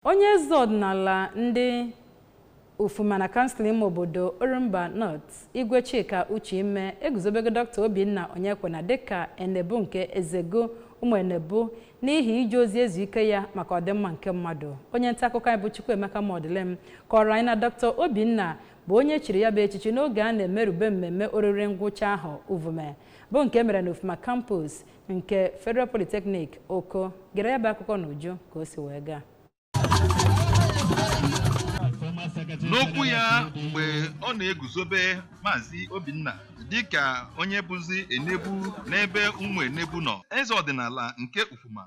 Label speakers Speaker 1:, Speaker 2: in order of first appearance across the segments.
Speaker 1: Onye eze ọdịnala ndị Ufuma na kansụl ime obodo Orumba North, Igwe Chika Uchime eguzobego Dọkịta Obinna Onyekwena dịka Enebu nke Ezego ụmụ Enebu n'ihi ije ozi ezu ike ya maka ọdịmma nke mmadụ. Onye nta akụkọ anyị bụ Chukwuemeka Modilim kọọrọ anyị na Dọkịta Obinna bụ onye chiri ya bụ echichi n'oge a na-emerube mmemme oriri ngwụcha ahọ Uvume bụ nke mere na Ufuma Campus nke federal polytechnic oko gere ya bụ akụkọ n'uju ka o si wee gaa
Speaker 2: n'okwu ya mgbe ọ na-eguzobe maazị obinna dịka onye bụzi enebu n'ebe ụmụ enebu nọ eze ọdịnala nke ufuma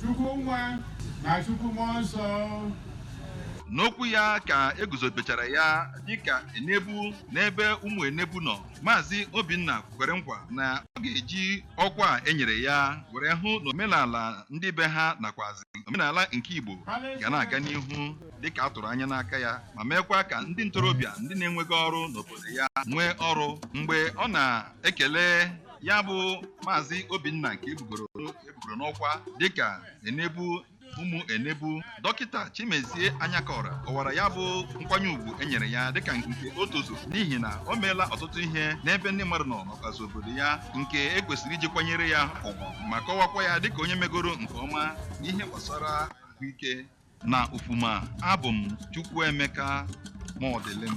Speaker 3: Chukwu Nwa na Chukwu Mmụọ Nsọ.
Speaker 2: N'okwu ya ka e guzobechara ya dịka Enebu n'ebe ụmụ Enebu nọ, Maazị Obinna kwere nkwa na ọ ga-eji ọkwa a e nyere ya were hụ na omenala ndị be ha nakwazi omenala nke Igbo ga na-aga n'ihu dịka a tụrụ anya n'aka ya ma meekwa ka ndị ntorobịa ndị na-enweghị ọrụ n'obodo ya nwee ọrụ mgbe ọ na-ekele ya bụ maazị obinna nke e bugoro n'ọkwa dịka enebu ụmụ enebu dọkịta chimezie anyakọra kọwara ya bụ nkwanye ugwu e nyere ya dịka nke o tozu n'ihi na o meela ọtụtụ ihe n'ebe ndị mmadụ nọ n'ọkazị obodo ya nke e kwesịrị iji kwanyere ya ugwu ma kọwakwa ya dịka onye megoro nke ọma n'ihe gbasara ahụike na ufuma abụ m chukwuemeka modilim